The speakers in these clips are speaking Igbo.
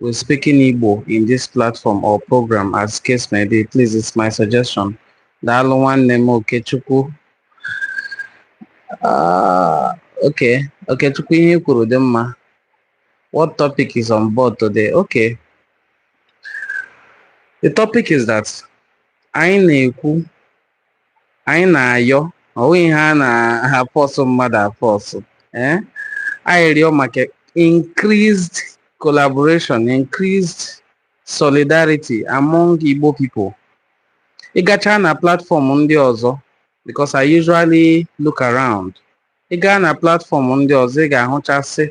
We're speaking Igbo in this platform or program as case may be. Please, it's my suggestion. Daalụ nwanne m Okechukwu. Ah, okay, Okechukwu ihe i kwuru dị mma. What topic is on board today? Okay. The topic is that anyị na-ekwu anyị na-ayọ ọ bụghị ihe a na-afọsụ mmadụ afọsụ ee eh? arịrịọ maka increased collaboration increased solidarity among Igbo people ị gachaa na platfọm ndị ọzọ because I usually look around ị gaa na platfọm ndị ọzọ ị ga-ahụchasị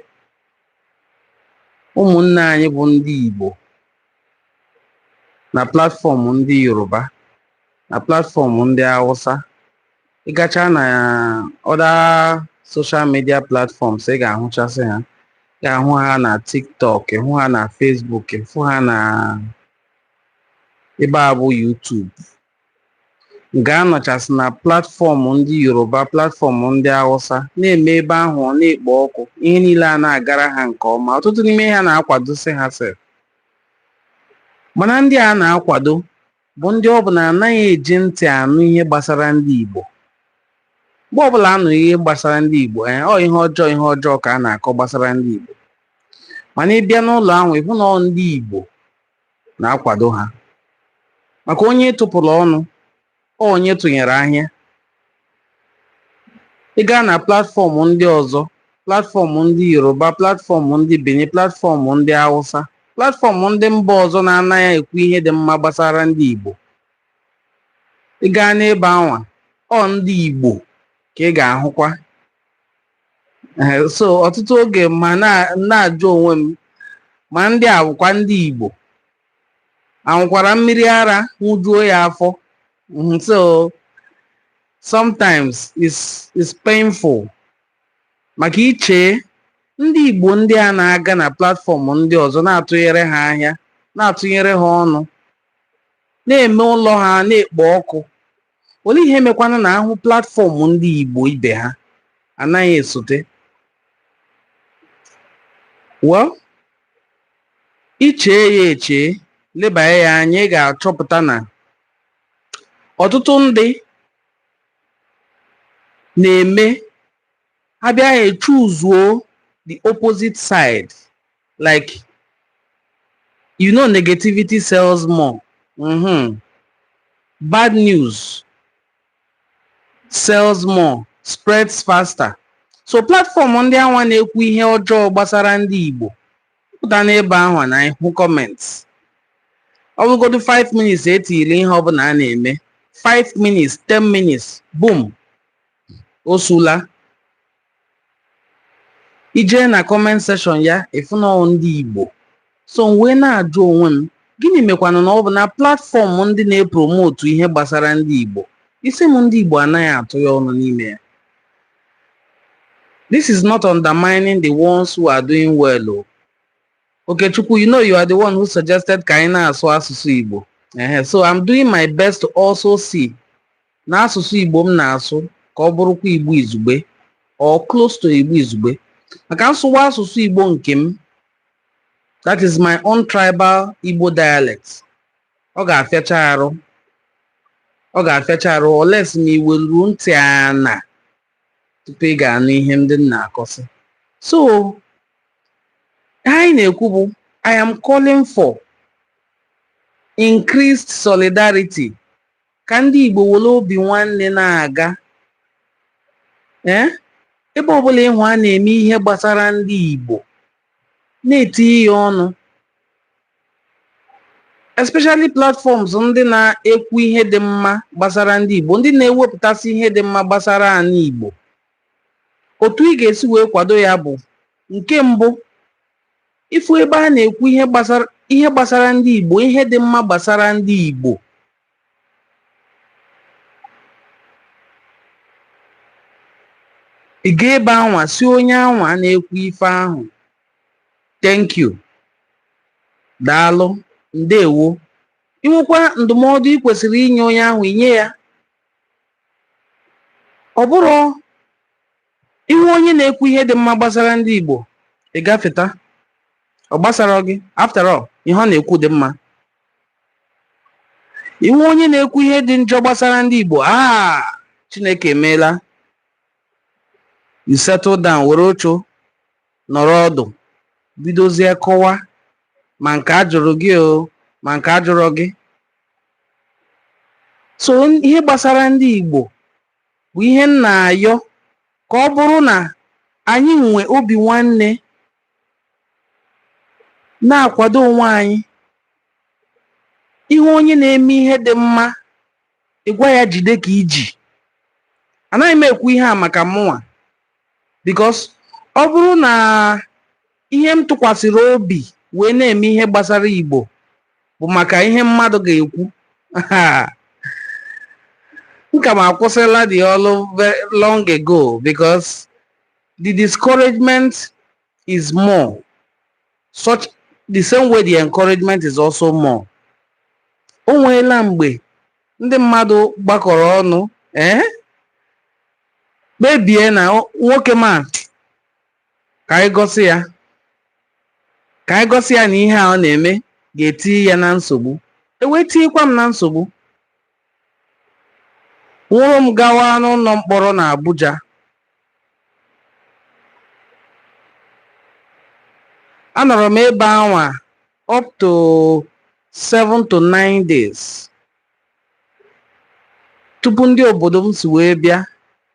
ụmụnne anyị bụ ndị Igbo na platfọm ndị yoruba na platfọm ndị hausa ị gachaa na other social media platforms ị ga-ahụchasị ha ị ga-ahụ ha na tiktok ị hụ ha na facebook ị hụ ha na ebe a bụ youtube Ga-anọchasị na platfọm ndị Yoruba, platfọm ndị Hausa, na-eme ebe ahụ ọ na-ekpo ọkụ, ihe niile a na-agara ha nke ọma, ọtụtụ n'ime ha na-akwadosị ha sef. Mana ndị a na-akwado bụ ndị ọ bụ na anaghị eji ntị anụ ihe gbasara ndị Igbo. Mgbe ọbụla a nụ ihe gbasara ndị Igbo, ee, ọ ihe ọjọọ ihe ọjọọ ka a na-akọ gbasara ndị Igbo. Mana ị bịa n'ụlọ ahụ, ị hụ na ọ ndị Igbo na-akwado ha maka onye tụpụrụ ọnụ ọ onye tụnyere ahịa ị gaa na platfọm ndị ọzọ platfọm ndị yoruba platfọm ndị benin platfọm ndị hausa platfọm ndị mba ọzọ na-anaghị ekwu ihe dị mma gbasara ndị igbo ị gaa n'ebe anwa ọ ndị igbo ka ị ga-ahụkwa Eh, so ọtụtụ oge m na- na-ajụ onwe m ma ndị a bụkwa ndị Igbo aṅụkwara mmiri ara ṅụjuo ya afọ Mhm, so sometimes it's, it's painful maka i chee ndị Igbo ndị a na-aga na platfọm ndị ọzọ na-atụnyere ha ahịa na-atụnyere ha ọnụ na-eme ụlọ ha na-ekpo ọkụ Olee ihe mekwanụ na ahụ platfọm ndị Igbo ibe ha anaghị esote? Well, i chee ya echee, lebanye ya anya, ị ga-achọpụta na ọtụtụ ndị na-eme ha abịa echuzuo the opposite side like you know negativity sells more mm-hmm. bad news sells more spreads faster so platform ndị anwa na-ekwu ihe ọjọọ gbasara ndị Igbo pụta n'ebe ahụ na ị hụ comments ọ bụgodu 5 minutes e tiri ihe ọbụla a na-eme 5 minutes 10 minutes boom o sula i jee na comment section ya ị fụ na ọ bụ ndị igbo so m wee na-ajụ onwe m gịnị mekwanụ na ọ bụ na platform ndị na-epromotu ihe gbasara ndị igbo it seems ndị igbo anaghị atụ ya ọnụ n'ime ya this is not undermining the ones who are doing well o okechukwu you know you are the one who suggested ka anyị na-asụ asụsụ igbo Ehe, so i'm doing my best to also see na asụsụ Igbo m na-asụ ka ọ bụrụkwa Igbo izugbe or close to Igbo izugbe maka m sụwa asụsụ Igbo nke m that is my own tribal Igbo dialect ọ ga-afịacha arụ ọ ga-afịacha arụ unless ma i weruo ntị ana tupu ị ga-anụ ihe ndị m na-akọsị so anyị na-ekwu bụ I am calling for increased solidarity ka ndị Igbo were obi nwanne na-aga ee ebe ọbụla ị hụ a na-eme ihe gbasara ndị Igbo na-etinye ya ọnụ especially platforms ndị na-ekwu ihe dị mma gbasara ndị Igbo ndị na-ewepụtasị ihe dị mma gbasara anyị Igbo otu ị ga-esi wee kwado ya bụ nke mbụ ị fụ ebe a na-ekwu ihe gbasara ndị Igbo ihe dị mma gbasara ndị Igbo ị ga ebe anwa sị onye anwa na-ekwu ife ahụ thank you daalụ ndewo i nwekwa ndụmọdụ ị kwesịrị inye onye ahụ i nye ya ọ bụrụ ị hụ onye na-ekwu ihe dị mma gbasara ndị Igbo ị gafeta ọ gbasarọ gị after all ihe ọ na-ekwu dị mma ị hụ onye na-ekwu ihe dị njọ gbasara ndị Igbo a ah, Chineke emeela you settle down were oche nọrọ ọdụ bidozie kọwa ma nke a jụrụ gị o ma nke a jụrọ gị so ihe gbasara ndị Igbo bụ ihe m na-ayọ ka ọ bụrụ na anyị nwe obi nwanne na-akwado onwe anyị ị hụ onye na-eme ihe dị mma ị gwa ya jide ka i ji anaghị m ekwu ihe a maka mụnwa because ọ bụrụ na ihe m tụkwasịrị obi wee na-eme ihe gbasara Igbo bụ maka ihe mmadụ ga-ekwu m ka m akwụsịla the ọlụ long ago because the discouragement is more. Such the same way the encouragement is also more. O nweela mgbe ndị mmadụ gbakọrọ ọnụ ee kpebie na o- nwoke m a ka anyị gosi ya ka anyị gosi ya na ihe a ọ na-eme ga-eti ya na nsogbu e wee tinyekwa m na nsogbu nwụrụ m gawa n'ụlọ mkpọrọ na Abuja anọrọ m ebe anwa up to 7 to 9 days tupu ndị obodo m si wee bịa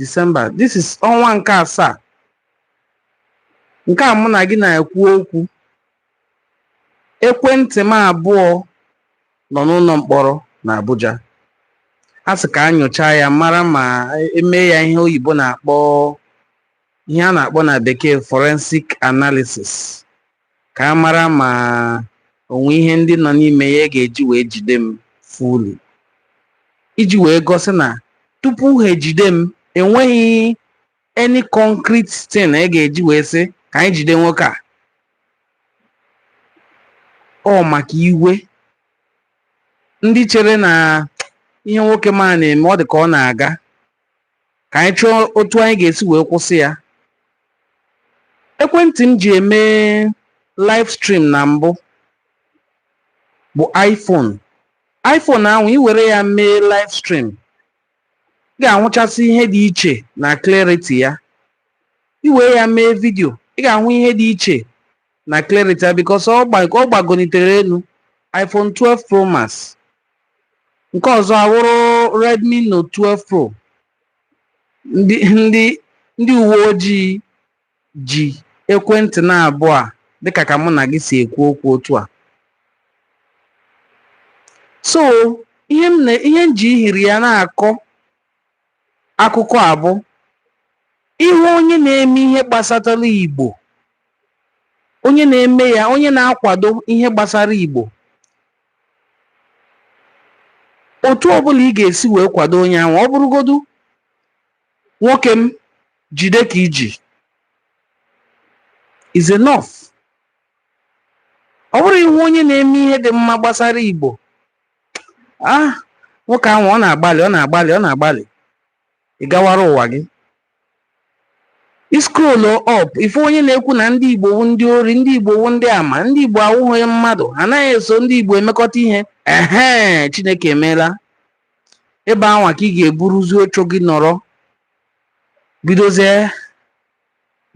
December this is ọnwa nke asaa nke a mụ na gị na-ekwu okwu ekwentị m abụọ nọ n'ụlọ mkpọrọ na Abuja a sị ka a nyochaa ya mara ma e mee ya ihe oyibo na-akpọ ihe a na-akpọ na bekee forensic analysis ka a mara ma o nwe ihe ndị nọ n'ime ya e ga-eji wee jide m fully iji wee gosi na tupu ha ejide m enweghị any concrete thing e ga-eji wee sị ka anyị jide nwoke a ọ maka iwe ndị chere na ihe nwoke m a na-eme ọ dị ka ọ na-aga ka anyị chọọ otu anyị ga-esi wee kwụsị ya ekwentị m ji eme live stream na mbụ bụ iPhone iPhone ahụ ị were ya mee live stream ị ga-ahụchasị ihe dị iche na clarity ya ị were ya mee vidio ị ga-ahụ ihe dị iche na clarity ya because ọ gba- ọ gbagonitere elu iPhone 12 Pro Max nke ọzọ awụrụ Redmi Note 12 Pro ndị uwe ojii ji ekwentị naabụọ a dịka ka mụ na gị si ekwu okwu otu a so ihe m ji ihiri ya na-akọ akụkọ a bụ ị hụ onye na-eme ihe gbasatara Igbo onye na-eme ya onye na-akwado ihe gbasara Igbo otu ọbụla ị ga-esi wee kwado onye ahụ ọ bụrụgodu nwoke m jide ka i ji is enough ọ bụrụ ị hụ onye na-eme ihe dị mma gbasara igbo ah nwoke ahụ ọ na-agbalị ọ na-agbalị ọ na-agbalị ị gawara ụwa gị ị scroll up ị fụ onye na-ekwu na ndị igbo wụ ndị ori ndị igbo wụ ndị ama ndị igbo awụghị mmadụ ha anaghị eso ndị igbo emekọta ihe ehe chineke emeela ebe anwa ka ị ga-eburuzi oche gị nọrọ bidozie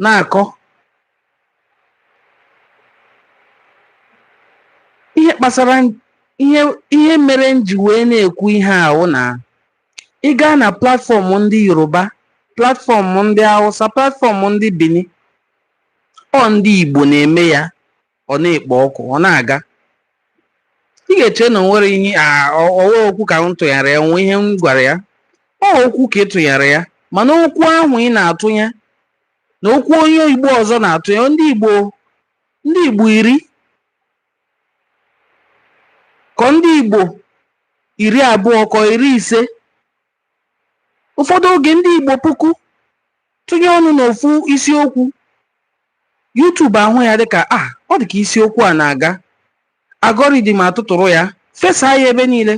na-akọ ihe kpasara ihe ihe mere m ji wee na-ekwu ihe a wụ na ị gaa na platform ndị yoruba platform ndị awụsa platform ndị bini ọ ndị igbo na-eme ya ọ na-ekpo ọkụ ọ na-aga ị ga-eche na o nwere ihe ọ wụ okwu ka m tụnyere ya o nwe ihe m gwara ya ọ okwu ka ị tụnyere ya mana okwu ahụ ị na-atụnye na okwu onye Igbo ọzọ na-atụnye ndị Igbo iri kọọ ndị Igbo iri abụọ kọọ iri ise ụfọdụ oge ndị Igbo puku tụnye ọnụ n'ofu isiokwu YouTube ahụ ya dịka ah, ọ dịka isiokwu a na-aga algorithm atụtụrụ ya fesa ya ebe niile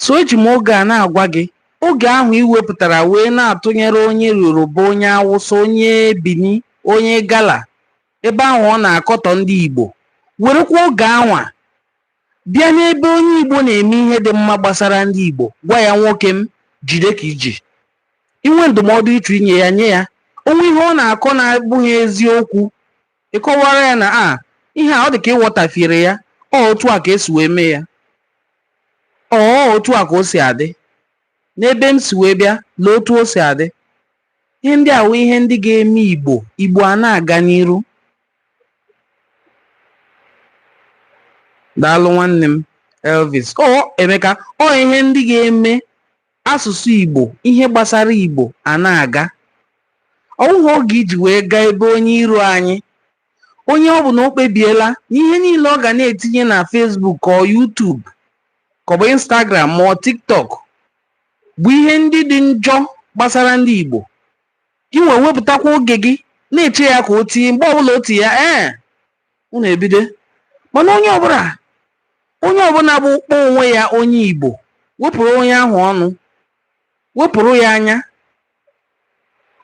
so eji m oge a na-agwa gị oge ahụ ị wepụtara wee na-atụnyere onye Yoruba onye Awụsa onye Bini onye Igala ebe ahụ ọ na-akọtọ ndị Igbo werekwa oge anwa Bịa n'ebe onye Igbo na-eme ihe dị mma gbasara ndị Igbo, gwa ya nwoke m, jide ka i ji. I nwee ndụmọdụ ị chọrọ inye ya, nye ya. O nwee ihe ọ na-akọ na-abụghị eziokwu, ị kọwaara ya na a ihe a ọ dị ka ị ghọtafiere ya, ọ otu a ka e si wee mee ya, ọ ọ otu a ka o si adị, n'ebe m si wee bịa, lee otu o si adị. Ihe ndị a wụ ihe ndị ga-eme Igbo, Igbo a na-aga n'iru. daalụ nwanne m elvis ọ emeka ọ ihe ndị ga-eme asụsụ igbo ihe gbasara igbo a na-aga ọ wụghị oge iji wee gaa ebe onye iro anyị onye ọ bụ na o kpebiela na ihe niile ọ ga na-etinye na facebook ka ọ youtube ka ọ bụ instagram ma ọ tiktok bụ ihe ndị dị njọ gbasara ndị igbo Gị nwa wepụtakwa oge gị na-eche ya ka o tii mgbe ọbụla o tii ya ee unu ebido mana onye ọbụla onye ọbụla bụ kpọọ onwe ya onye Igbo wepụrụ onye ahụ ọnụ wepụrụ ya anya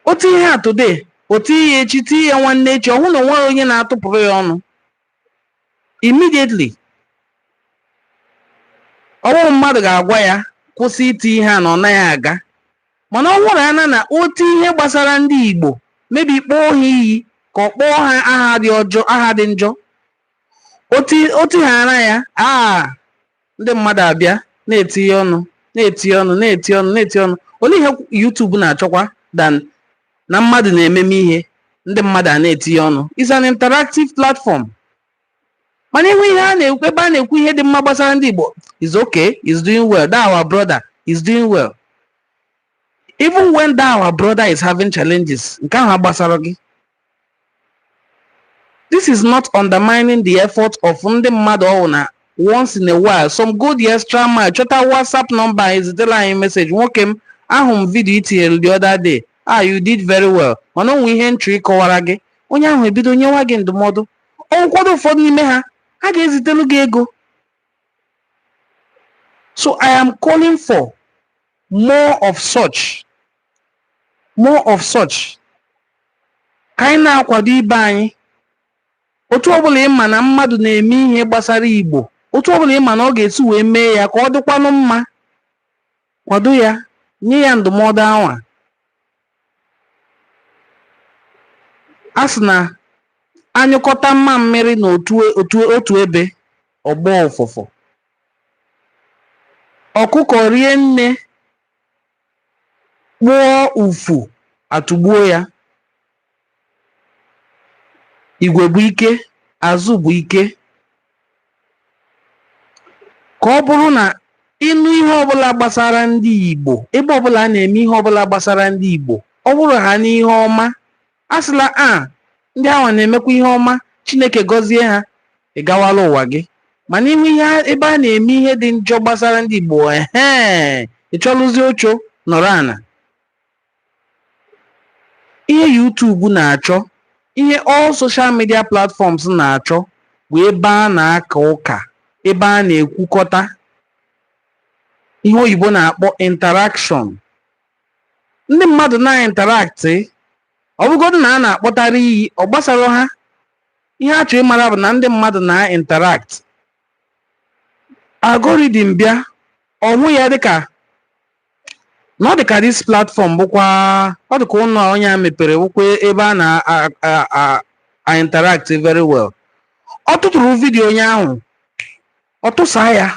o tii ihe a today o tii ya echi tii ya nwanne echi ọ hụ na onweghị onye na-atụpụrụ ya ọnụ immediately ọwụrụ mmadụ ga-agwa ya kwụsị iti ihe a na ọ naghị aga mana ọ wụrụ hana na o tii ihe gbasara ndị Igbo maybe kpọọ ha iyi ka ọ kpọọ ha aha dị ọjọọ aha dị njọ o tii hara ya aa ndị mmadụ abịa na-etinye ọnụ na-etinye ọnụ na-etinye ọnụ na-etinye ọnụ olee ihe YouTube na-achọkwa than na mmadụ na-ememe ihe ndị mmadụ a na-etinye ọnụ is an interactive platform mana ị hụ ihe a na-ekwu ebe a na-ekwu ihe dị mma gbasara ndị Igbo is okay is doing well that our brother is doing well even when that our brother is having challenges nke ahụ agbasara gị this is not undermining the effort of ndị mmadụ ọwụ na once in a while some go the extra mile chọta whatsapp number ezitela anyị message nwoke m ahụ m vidio i tinyere the other day ah you did very well mana o nwe ihe m chọ ịkọwara gị onye ahụ ebido nyewa gị ndụmọdụ o nwekwadụ ụfọdụ n'ime ha a ga-ezitela gị ego so i am calling for more of such more of such ka anyị na-akwado ibe anyị otu ọbụla ị ma na mmadụ na-eme ihe gbasara igbo otu ọbụla ị ma na ọ ga-esi wee mee ya ka ọ dịkwanụ mma kwado ya nye ya ndụmọdụ anwa a sị na a nyụkọta mamịrị na otu ebe ọ gbọọ ụfụfụ ọkụkọ rie nne kpụọ ufu atụgbuo ya igwe bụ ike azụ bụ ike ka ọ bụrụ na ị nụ ihe ọbụla gbasara ndị Igbo ebe ọbụla a na-eme ihe ọbụla gbasara ndị Igbo ọ bụrụ ha n'ihe ọma a sịla a ndị ahụ na-emekwa ihe ọma Chineke gọzie ha ị gawala ụwa gị mana ị hụ ihe a- ebe a na-eme ihe dị njọ gbasara ndị Igbo ehe ị chọrụzie oche nọrọ ana ihe YouTube na-achọ ihe all social media platforms na-achọ bụ ebe a na-aka ụka ebe a na-ekwukọta ihe oyibo na-akpọ interaction ndị mmadụ na-interact ọ bụgodị na a na-akpọtara iyi ọ gbasara ha ihe a chọrọ ịmara bụ na ndị mmadụ na-interact algorithm bịa ọ hụ ya dịka na ọ dị ka this platform bụkwa ọ dị ka ụlọ onye a mepere bụkwa ebe a na-interact very well ọ tụtụrụ vidiyo onye ahụ ọ tụsa ya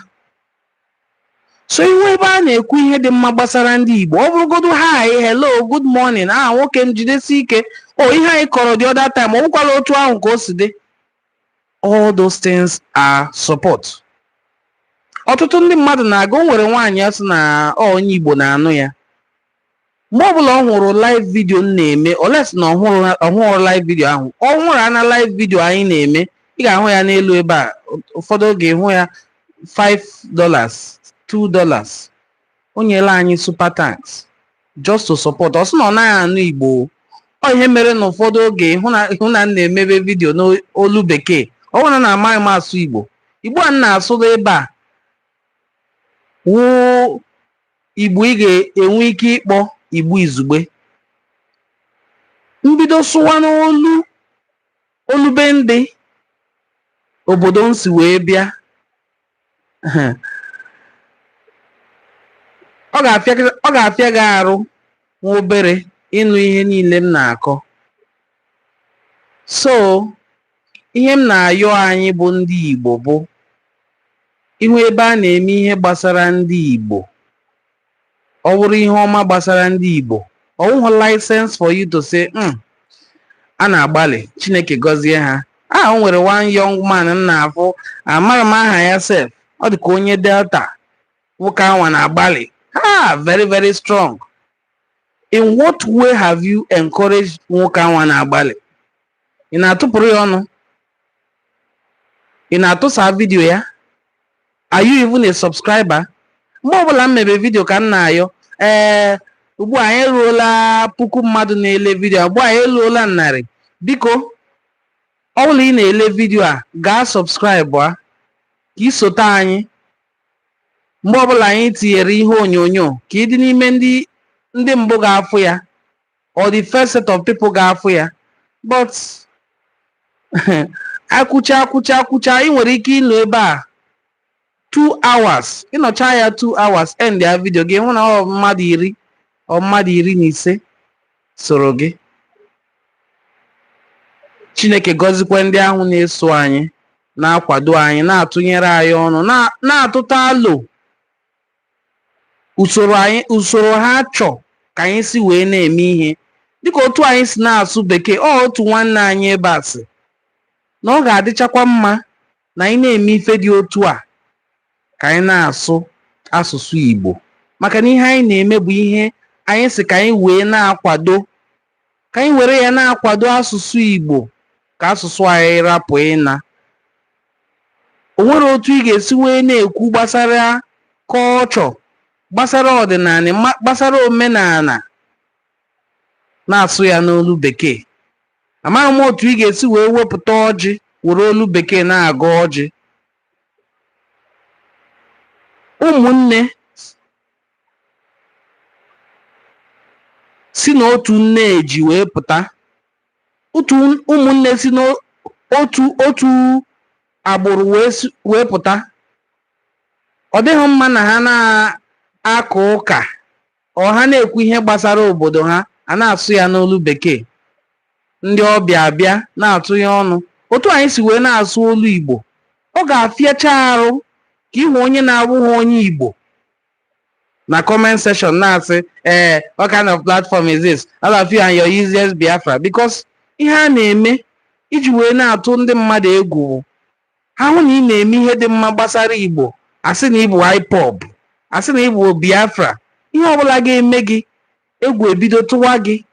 so ị hụ ebe a na-ekwu ihe dị mma gbasara ndị Igbo ọ bụrụgodu hi hello good morning ah nwoke m jidesi ike o ihe anyị kọrọ the other time ọ bụkwala otu ahụ ka o si dị all those things are support ọtụtụ ndị mmadụ na-aga o nwere nwaanyị ọ sị na ọ onye igbo na-anụ ya mgbe ọbụla ọ hụrụ live vidio m na-eme unless na ọ hụrụ- ọ hụrụ live vidio ahụ ọ hụrụ ana live vidio anyị na-eme ị ga-ahụ ya n'elu ebe a ụfọdụ oge ị hụ ya 5 dollars 2 dollars o nyela anyị super thanks just to support ọ sị na ọ naghị anụ igbo o. ọ ihe mere na ụfọdụ oge ị hụ na m na-emebe vidio n'olu bekee ọ bụghị na amaghị m asụ igbo igbo a m na-asụrụ ebe a wụ igbo ị ga-enwe ike ịkpọ igbo izugbe m bido sụwa n'olu olu be ndị obodo m si wee bịa ọ ga-afịa gị arụ nwa obere ịnụ ihe niile m na-akọ so ihe m na-ayọ anyị bụ ndị Igbo bụ ị hụ ebe a na-eme ihe gbasara ndị Igbo ọ bụrụ ihe ọma gbasara ndị Igbo ọ wụghị license for you to say mm, a na-agbalị Chineke gọzie ha a o nwere one young man m na-afụ amaghị m aha ya sef ọ dị ka onye Delta nwoke anwa na-agbalị ha very very strong in what way have you encouraged nwoke anwa na-agbalị ị na-atụpụrụ ya ọnụ ị na-atụsa vidiyo ya are you even a subscriber mgbe ọbụla m mebe vidiyo ka m na-ayọ ee eh, ugbu a anyị eruola puku mmadụ na-ele vidiyo ugbu a anyị eruola narị biko ọ bụrụ na ị na-ele vidiyo a gaa subscribe a ka i sote anyị mgbe ọbụla anyị tinyere ihe onyonyo ka ị dị n'ime ndị mbụ ga-afụ ya or the first set of people ga-afụ ya but akwụcha akwụcha akwụcha ị nwere ike ịnọ ebe a two hours ịnọcha ya two hours end ya vidio gị hụ na ọ mmadụ iri ọ mmadụ iri na ise soro gị chineke gọzikwa ndị ahụ na-eso anyị na-akwado anyị na-atụnyere anyị ọnụ na- na-atụta alo usoro anyị usoro ha chọ ka anyị si wee na-eme ihe dịka otu anyị si na-asụ bekee ọ otu nwanne anyị ebe a sị na ọ ga-adịchakwa mma na anyị na-eme ife dị otu a ka anyị na-asụ asụsụ Igbo maka na ihe anyị na-eme bụ ihe anyị sị ka anyị wee na-akwado ka anyị were ya na-akwado asụsụ Igbo ka asụsụ anyị rapụ ịna. O nwere otu ị ga-esi wee na-ekwu gbasara culture, gbasara ọdịnaanị, gbasara omenaana na-asụ ya n'olu bekee. Amaghị m otu ị ga-esi wee wepụta ọjị were olu bekee na-agọ ọjị. Ụmụnne si n'otu nne eji wee pụta otu ụmụnne si n'otu otu agbụrụ wee pụta ọ dịghị mma na ha na-aka ụka or ha na-ekwu ihe gbasara obodo ha a na-asụ ya n'olu bekee ndị ọbịa abịa na-atụnye ọnụ otu anyị si wee na-asụ olu Igbo ọ ga-afịacha arụ ka ị hụ onye na-abụghị onye Igbo na comment section na-asị ee what kind of platform is this all of you and your useless biafra because ihe a na-eme iji wee na-atụ ndị mmadụ egwu bụ ha hụ na ị na-eme ihe dị mma gbasara igbo a sị na ị bụ ipob a sị na ị bụ biafra ihe ọbụla ga-eme gị egwu ebido tụwa gị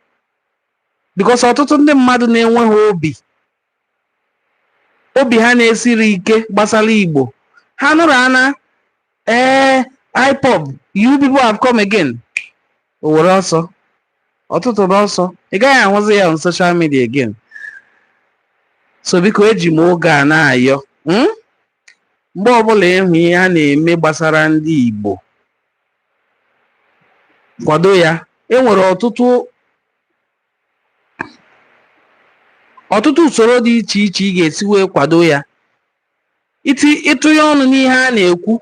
because ọtụtụ ndị mmadụ na-enweghị obi obi ha na-esiro ike gbasara Igbo ha nụrụ ana ee eh, IPOB you people have come again o were ọsọ ọ tụtụrụ ọsọ ị gaghị ahụzi ya on social media again so biko eji m oge a na-ayọ hmm? mgbe ọbụla ị hụ ihe a na-eme gbasara ndị Igbo kwado ya e nwere ọtụtụ ọtụtụ usoro dị iche iche ị ga-esi wee kwado ya iti ịtụnye ọnụ n'ihe a na-ekwu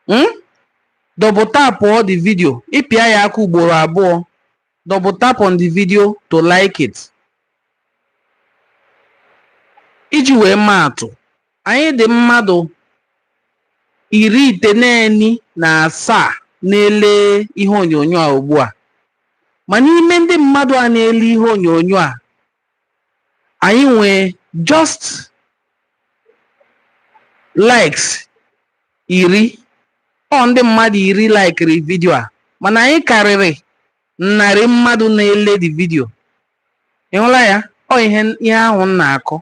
mm? double tap on the video ịpịa ya aka ugboro abụọ double tap on the video to like it iji wee maa atụ Anyị dị mmadụ iri itenaanị na asaa na-ele ihe onyonyo a ugbu a ma n'ime ndị mmadụ a na-ele ihe onyonyo a anyị nwere just likes iri ọ ndị mmadụ iri likiri vidio a mana anyị karịrị narị mmadụ na-ele the video Ị hụla ya? Ọ ihe ahụ m na-akọ.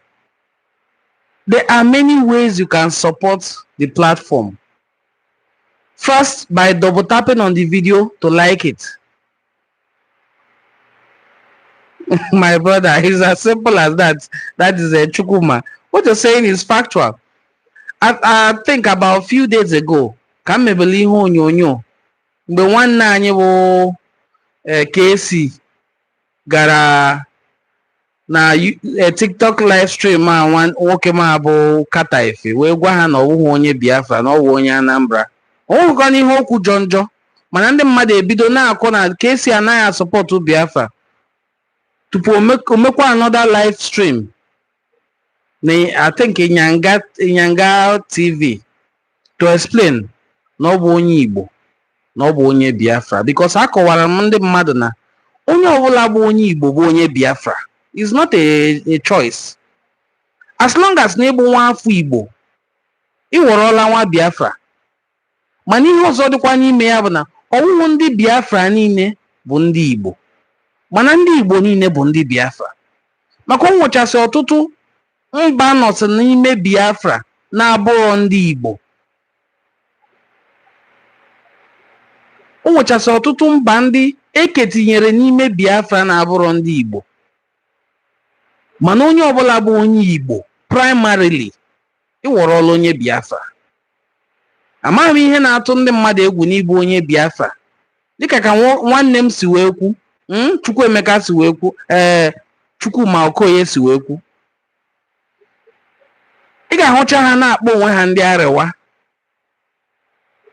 There are many ways you can support the platform. First, by double tapping on the video to like it. My brother, it's as simple as that. That is a uh, Chukwuma. What you're saying is factual. I, I think about a few days ago, ka m mebele ihe onyonyo mgbe nwanne anyị bụ eh, KC gara na eh, tiktok live stream a nwoke m a bụ carter efe wee gwa ha na ọ bụghị onye biafra na ọ bụ onye anambra o nwerọkwanụ ihe o kwu jọ njọ mana ndị mmadụ ebido na-akọ na kc anaghị asupportụ biafra tupu o mekwa another live stream I think Inyanga, Inyanga TV to explain na ọ bụ onye Igbo na ọ bụ onye Biafra because akọwara m ndị mmadụ na onye ọbụla bụ onye Igbo bụ onye Biafra it's not a, a choice as long as na ị bụ nwa afọ Igbo ị wọrọla nwa Biafra mana ihe ọzọ dịkwa n'ime ya bụ na ọ wụhụ ndị Biafra niile bụ ndị Igbo mana ndị Igbo niile bụ ndị Biafra maka o nwechasị ọtụtụ mba nọsị n'ime Biafra na-abụrọ ndị Igbo o nwechasị ọtụtụ mba ndị e ketinyere n'ime Biafra na-abụrọ ndị Igbo mana onye ọbụla bụ onye Igbo primarily ị wọrọla onye Biafra amaghị m ihe na-atụ ndị mmadụ egwu n'ịbụ onye biafra dịka ka nwa- nwanne m si wee kwu mm, chukwuemeka si wee kwu ee chukwuma okoye si wee kwu ị ga-ahụcha ha na-akpọ onwe ha ndị arewa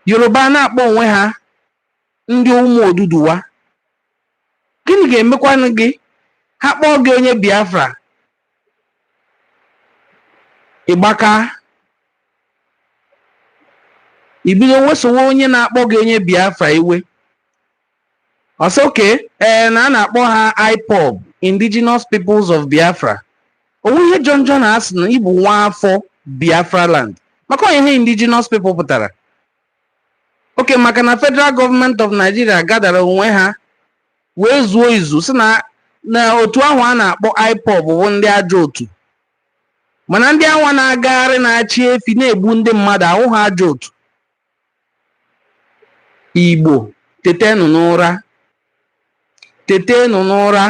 yoruba na-akpọ onwe ha ndị ụmụ oduduwa gịnị ga-emekwanụ gị ha kpọọ gị onye biafra ị gba aka i bido wesowe onye na-akpọ gị onye biafra iwe ọ sị okay ee na a na-akpọ ha ipob indigenous peoples of biafra o nwe ihe jọ njọ na a sị na ị bụ nwa afọ biafra land maka ọ ihe indigenous people pụtara oke maka na federal government of Nigeria gadara onwe ha wee zuo izu sị na otu ahụ a na-akpọ IPOB bụ ndị ajọ otu mana ndị anwa na-agagharị na-achị efi na-egbu ndị mmadụ awụha ajọ otu igbo tetenụ n'ụra tetenụ n'ụra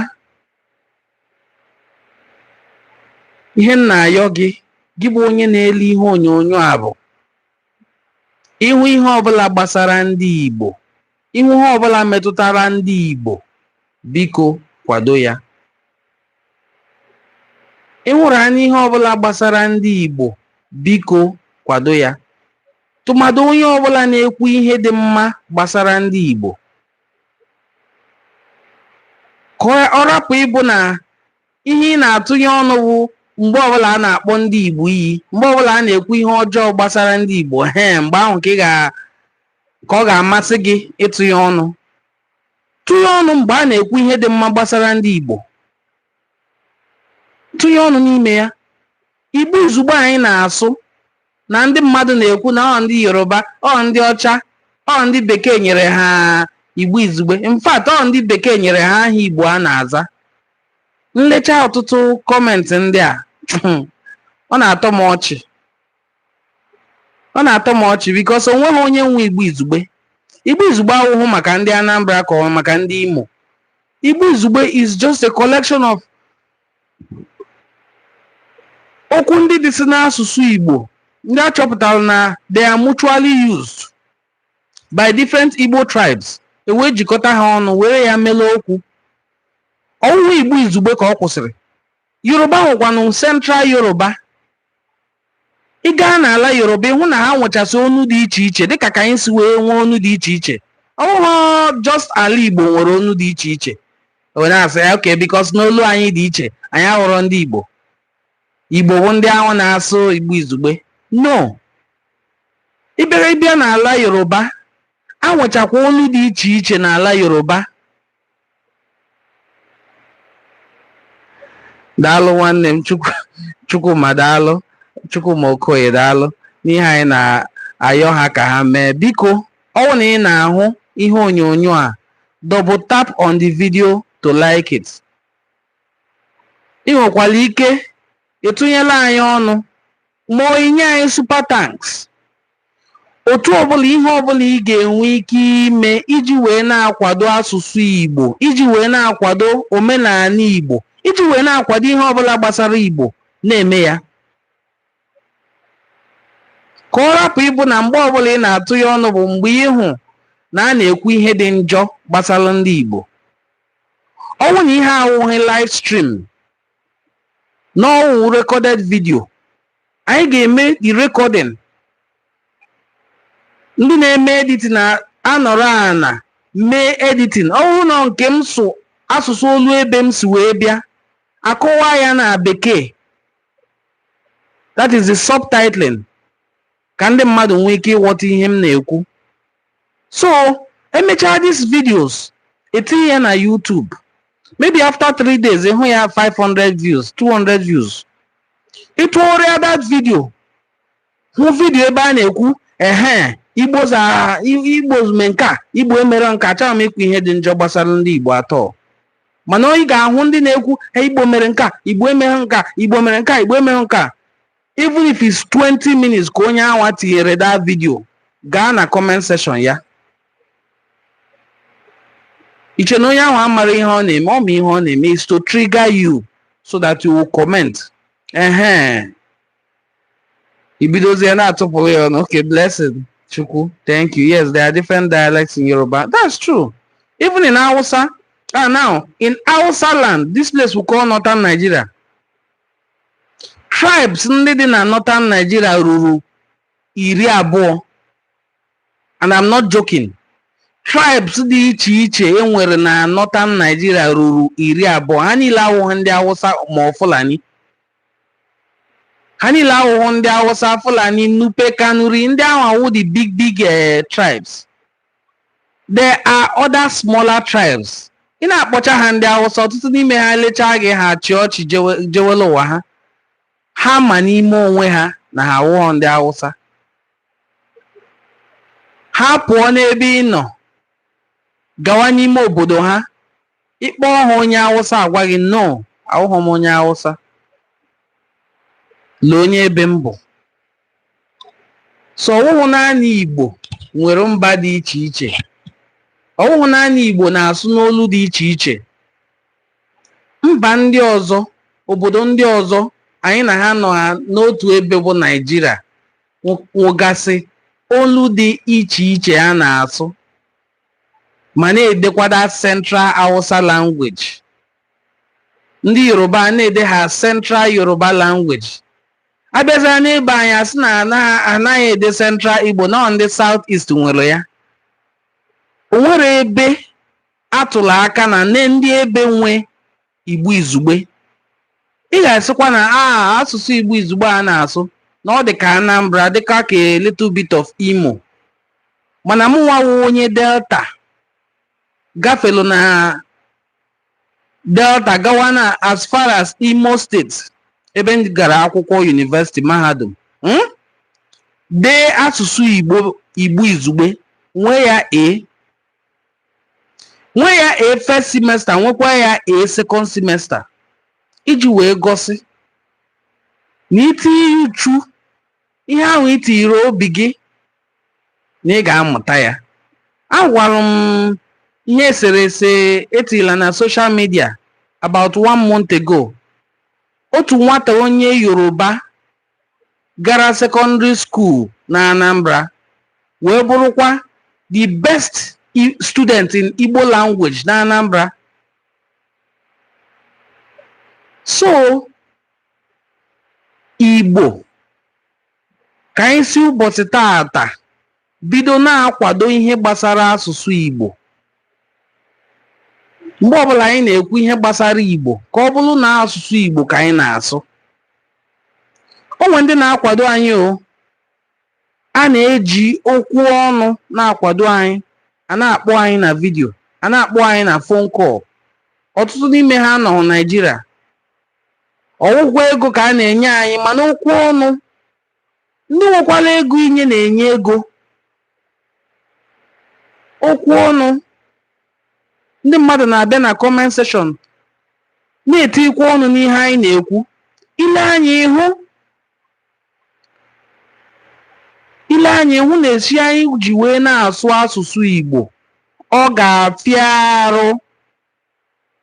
ihe m na-ayọ gị gị bụ onye na-ele ihe onyonyo a bụ ị hụ ihe ọbụla gbasara ndị Igbo ị hụ ihe ọbụla metụtara ndị Igbo biko kwado ya ị hụrụ anya ihe ọbụla gbasara ndị Igbo biko kwado ya tụmadụ onye ọbụla na-ekwu ihe dị mma gbasara ndị Igbo ka ọ rapụ ịbụ na ihe ị na-atụnye ọnụ wụ mgbe ọbụla a na-akpọ ndị Igbo iyi mgbe ọbụla a na-ekwu ihe ọjọọ gbasara ndị Igbo he mgbe ahụ ka ị ga ka ọ ga-amasị gị ịtụnye ọnụ tụnye ọnụ mgbe a na-ekwu ihe dị mma gbasara ndị Igbo tụnye ọnụ n'ime ya igbo izugbe anyị na-asụ na ndị mmadụ na-ekwu na ọ ndị yoruba ọ ndị ọcha ọ ndị bekee nyere ha igbo izugbe in fact ọ ndị bekee nyere ha aha igbo a na-aza m lecha ọtụtụ kọmentị ndị a ọ na-atọ m ọchị ọ na-atọ m ọchị because o nweghị onye nwe igbo izugbe igbo izugbe awụhụ maka ndị anambra ka ọ maka ndị imo igbo izugbe is just a collection of okwu ndị dị si n'asụsụ igbo ndị a chọpụtara na they are mutually used by different igbo tribes e wee jikọta ha ọnụ were ya mele okwu ọ wụhụ igbo izugbe ka ọ kwụsịrị Yoruba nwekwanụ Central Yoruba. Ị gaa n'ala Yoruba ị hụ na ha nwechasị onu dị iche iche dịka ka anyị si wee nwee onu dị iche iche. Ọ wụhụ just ala Igbo nwere onu dị iche iche. Wee na-asị ya okay because na olu anyị dị iche anyị awụhụ ndị Igbo. Igbo bụ ndị ahụ na-asụ Igbo izugbe. No. Ị bịara ị bịa n'ala Yoruba, a nwechakwa onu dị iche iche n'ala Yoruba. daalụ nwanne m chukwuma daalụ chukwuma okoye daalụ n'ihe anyị na-ayọ ha ka ha mee biko ọ wụ na ị na-ahụ ihe onyonyo a double tap on the video to like it ị nwekwara ike ịtụnyela anyị ọnụ ma inye anyị super thanks Otu ọbụla, ihe ọbụla ị ga-enwe ike ime iji wee na-akwado asụsụ Igbo, iji wee na-akwado omenala Igbo, iji wee na-akwado ihe ọbụla gbasara Igbo, na-eme ya. Ka ọ rapụ ịbụ na mgbe ọbụla ị na-atụ ya ọnụ bụ mgbe ịhụ na a na-ekwu ihe dị njọ gbasara ndị Igbo. Ọwụ na ihe awụghị live stream, n'ọwụ recorded video anyị ga-eme the recording ndị na-eme editing anọrọ ana mee editing ọwụ na nke m sụ asụsụ olu ebe m si wee bịa akọwa ya na bekee that is the subtitling ka ndị mmadụ nwee ike ịghọta ihe m na-ekwu so emechaa these videos etinye ya na YouTube maybe after three days ịhụ ya 500 views 200 views ịtụgharịa that video hụ video ebe a na-ekwu ehe igbos are igbos mee nke a igbo emere nke a achọghị m ikwu ihe dị njọ gbasara ndị igbo at all mana anyị ga-ahụ ndị na-ekwu igbo mere nke a igbo emere nke a igbo mere nke a igbo emere nke a even if it's 20 minutes ka onye anwa tinyere that video gaa na comment section ya iche na onye ahụ amara ihe ọ na-eme ọ ma ihe ọ na-eme is to trigger you so that you will comment ehe ibidozie na-atụpụrụ ya ọnụ okay blessing chukwu thank you yes there are different dialects in yoruba that's true even in hausa ah now in hausa land this place we call northern nigeria tribes ndị dị na northern Nigeria ruru iri abụọ and I'm not joking tribes dị iche iche e nwere na northern Nigeria ruru iri abụọ ha niile awụghị ndị Hausa or Fulani ha niile awụghị ndị Hausa Fulani Nupe Kanuri ndị anwa wụ the big big eh, tribes There are other smaller tribes. Ị na-akpọcha ha ndị Hausa, ọtụtụ n'ime ha elechaa gị ha achị ọchị jewere ụwa ha. Ha ma n'ime onwe ha na ha awụghọ ndị Hausa. Ha pụọ n'ebe ị nọ gawa n'ime obodo ha, ị kpọọ ha onye Hausa agwa gị no, awụghọ m onye Hausa. Lee onye ebe m bụ. so ọwụhụ naanị Igbo nwere mba dị iche iche ọwụhụ naanị Igbo na-asụ n'olu dị iche iche mba ndị ọzọ obodo ndị ọzọ anyị na ha nọ n'otu ebe bụ Naịjirịa nwegasị olu dị iche iche a na-asụ ma na-edekwada Central Hausa language ndị Yoruba na-edegha Central Yoruba language Abịazịa n'ebe anyị a sị na ana- anaghị ede Central Igbo na ọ ndị South East nwere ya. O nwere ebe atụrụ aka na nee ndị ebe nwe Igbo Izugbe. Ị ga-asịkwa na a asụsụ Igbo Izugbe a na-asụ na ọ dị ka Anambra dịka ka a little bit of Imo. Mana mụnwa wụ onye Delta gafelu na Delta gawa na as far as Imo steeti ebe m gara akwụkwọ yunivesiti mahadum mm, dee asụsụ Igbo izugbe nwee ya A nwee ya A first semester nwekwa ya A second semester iji wee gosi na i tinye uchu ihe ahụ i tinyere obi gị na ị ga-amụta ya agwara m ihe e sere ese etila na social media about one month ago otu nwata onye yoruba gara secondary school na anambra wee bụrụkwa the best i- student in igbo language na anambra so igbo Ka anyị si ụbọchị taata bido na-akwado ihe gbasara asụsụ Igbo. Mgbe ọbụla anyị na-ekwu ihe gbasara Igbo ka ọ bụrụ na asụsụ Igbo ka anyị na-asụ. O nwere ndị na-akwado anyị o. A na-eji okwu ọnụ na-akwado anyị, a na-akpọ anyị na vidio, a na-akpọ anyị na phone call. Ọtụtụ n'ime ha nọ Naịjirịa, ọ wụkwọ ego ka a na-enye anyị mana okwu ọnụ ndị nwekwara ego inye na-enye ego okwu ọnụ ndị mmadụ na-abịa na comment section na-etikwa ọnụ n'ihe anyị na-ekwu i lee anya ị hụ i lee anya ị hụ na esi anyị ji wee na-asụ asụsụ Igbo ọ ga-afịa arụ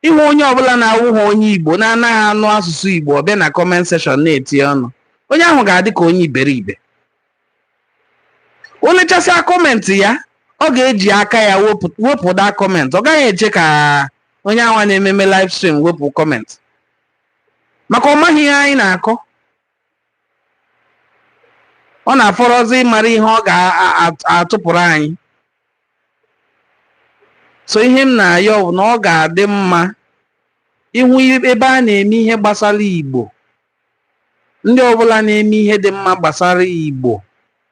Ịhụ onye ọbụla na-awụghị onye Igbo na-anaghị anụ asụsụ Igbo ọ bịa na comment section na-eti ọnụ, onye ahụ ga-adị ka onye iberibe. O lechasịa comment ya, ọ ga-eji aka ya wepụ that comment. Ọ gaghị eche ka onye ahụ na-ememe live stream wepụ comment. Maka ọ maghị ihe anyị na-akọ. ọ na-afọrọzi ịmara ihe ọ ga-atụpụrụ anyị so ihe m na-ayọ bụ na ọ ga-adị mma ịhụ ebe a na-eme ihe gbasara Igbo ndị ọbụla na-eme ihe dị mma gbasara Igbo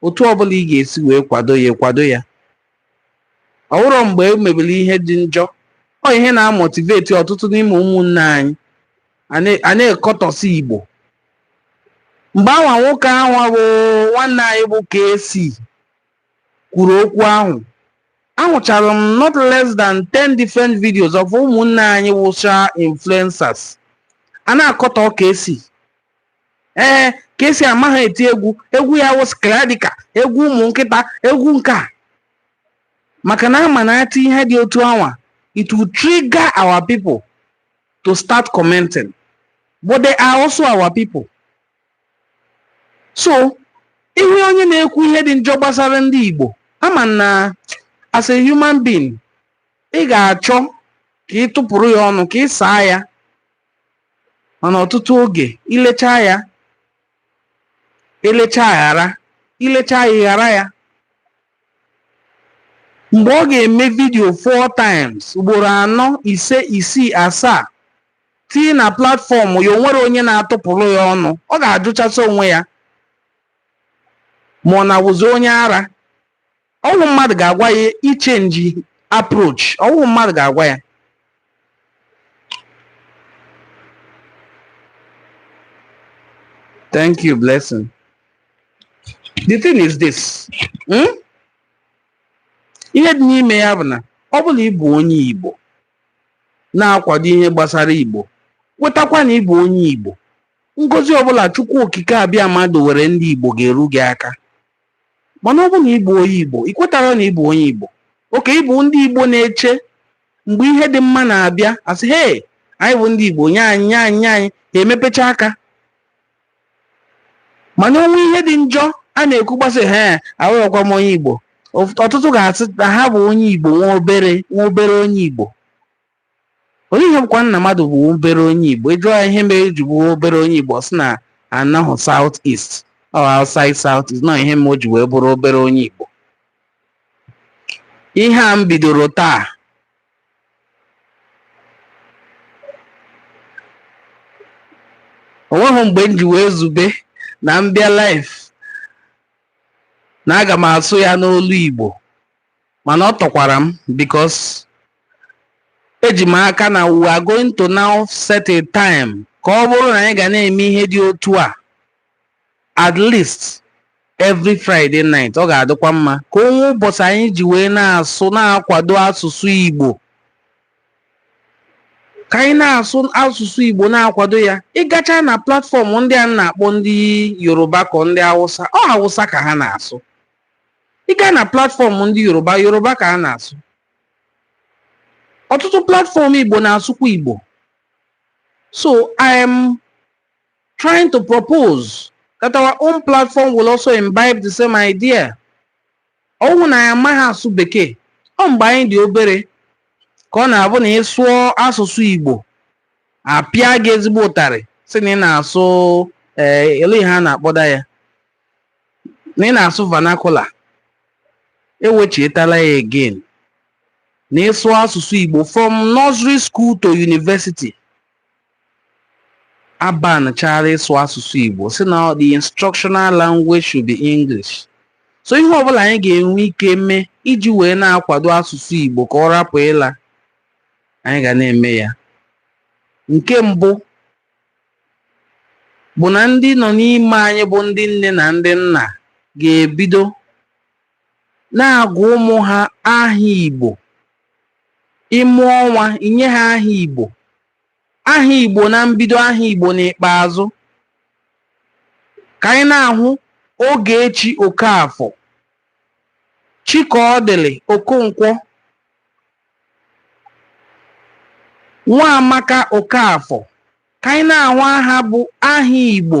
otu ọbụla ị ga-esi wee kwado ya kwado ya ọ wụrọ mgbe e mebiri ihe dị njọ ọ ihe na-amotiveti ọtụtụ n'ime ụmụnne anyị a na-akọtọsị Igbo mgbe anwa nwoke ahụ bụ nwanne anyị bụ KC kwuru okwu ahụ ahụchara m not less than 10 different videos of ụmụnne anyị wụcha influencers a na-akọtọ KC ee KC amaghị eti egwu egwu ya wụ skladika egwu ụmụ nkịta egwu nke a maka na a ma na a tii ihe dị otu anwa it will trigger our people to start commenting. But they are also our people. So, ị hụ onye na-ekwu ihe dị njọ gbasara ndị Igbo ama m na as a human being ị ga-achọ ka ị tụpụrụ ya ọnụ ka ị saa ya mana ọtụtụ oge i lecha ya elecha ghara i lecha ya ghara ya mgbe ọ ga-eme vidio four times ugboro anọ ise isii asaa tii na platfọm ya o nwerọ onye na-atụpụrụ ya ọnụ ọ ga-ajụchasị onwe ya ma ọ na-awụzi onye ara ọ wụrọ mmadụ ga-agwa ya ichenji approach ọ wụrọ mmadụ ga-agwa ya Thank you, Blessing. The thing is this. Hmm? Ihe dị n'ime ya bụ na ọ bụrụ na ị bụ onye Igbo na-akwado ihe gbasara Igbo kwetakwa na ị bụ onye Igbo ngozi ọbụla Chukwu Okike Abịama dowere ndị Igbo ga-eru gị aka mana ọ bụ na ị bụ onye Igbo i kwetara na ị bụ onye Igbo okay ị bụ ndị Igbo na-eche mgbe ihe dị mma na-abịa a sị hee anyị bụ ndị Igbo nye anyị nye anyị nye anyị ha emepecha aka mana o nwee ihe dị njọ a na-ekwu ha asị hee awụrọkwa m onye Igbo ọtụtụ ga-asị na ha bụ onye Igbo nwa obere nwa obere onye Igbo o nwe ihe bụkwa na mmadụ bụ obere onye Igbo ị jụọ ya ihe mere o ji bụ obere onye Igbo ọ sị na anọhụ South East ọ outside South East ọ nọ ihe mere o ji wee bụrụ obere onye Igbo ihe a m bidoro taa o nweghị mgbe m ji wee zube na m bịa live na aga m asụ ya n'olu Igbo mana ọ tọkwara m because eji m aka na we are going to now set a time ka ọ bụrụ na anyị ga na-eme ihe dị otu a at least every Friday night ọ ga-adịkwa mma ka o nwee ụbọchị anyị ji wee na-asụ na-akwado asụsụ Igbo ka anyị na-asụ asụsụ Igbo na-akwado ya ị gacha na platfọm ndị a na-akpọ ndị Yoruba ka ndị Hausa ọ Hausa ka ha na-asụ ị gaa na platfọm ndị yoruba yoruba ka a na-asụ ọtụtụ platfọm igbo na-asụkwa igbo so i am trying to propose that our own platform will also imbibe the same idea ọ wụhụ na anyị amaghị asụ bekee ọ mgbe anyị dị obere ka ọ na-abụ na ị sụọ asụsụ igbo a pịa gị ezigbo ụtarị sị na ị na-asụ ee ele ihe a na-akpọda ya na ị na-asụ vernacular e wechietala ya again na ịsụ asụsụ Igbo from nursery school to university a banchara ịsụ asụsụ Igbo sị na the instructional language should be English so ihe ọbụla anyị ga-enwe ike mee iji wee na-akwado asụsụ Igbo ka ọ rapụ ịla anyị ga na-eme ya nke mbụ bụ na ndị nọ n'ime anyị bụ ndị nne na ndị nna ga-ebido na-agụ ụmụ ha aha Igbo ị mụọ nwa i nye ha aha Igbo aha Igbo na mbido aha Igbo n'ikpeazụ ka anyị na-ahụ Ogechi Okafor Chikaọdịlị Okonkwo Nwaamaka Okafor ka anyị na-ahụ aha bụ aha Igbo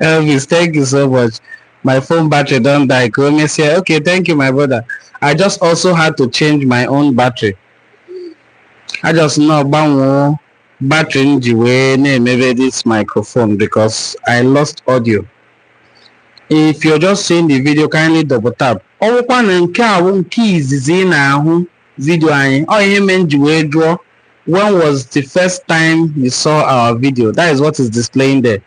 Elvis, thank you so much. My phone battery don die. Ka o mesịa. Okay, thank you, my brother. I just also had to change my own battery. I just nọọ gbanwee battery m ji wee na-emebe this microphone because I lost audio. If you're just seeing the video, kindly double tap. Ọ wụkwa na nke a wụ nke izizi ị na-ahụ vidio anyị. Ọ ihe mere m ji wee jụọ when was the first time you saw our video? That is what is displaying there.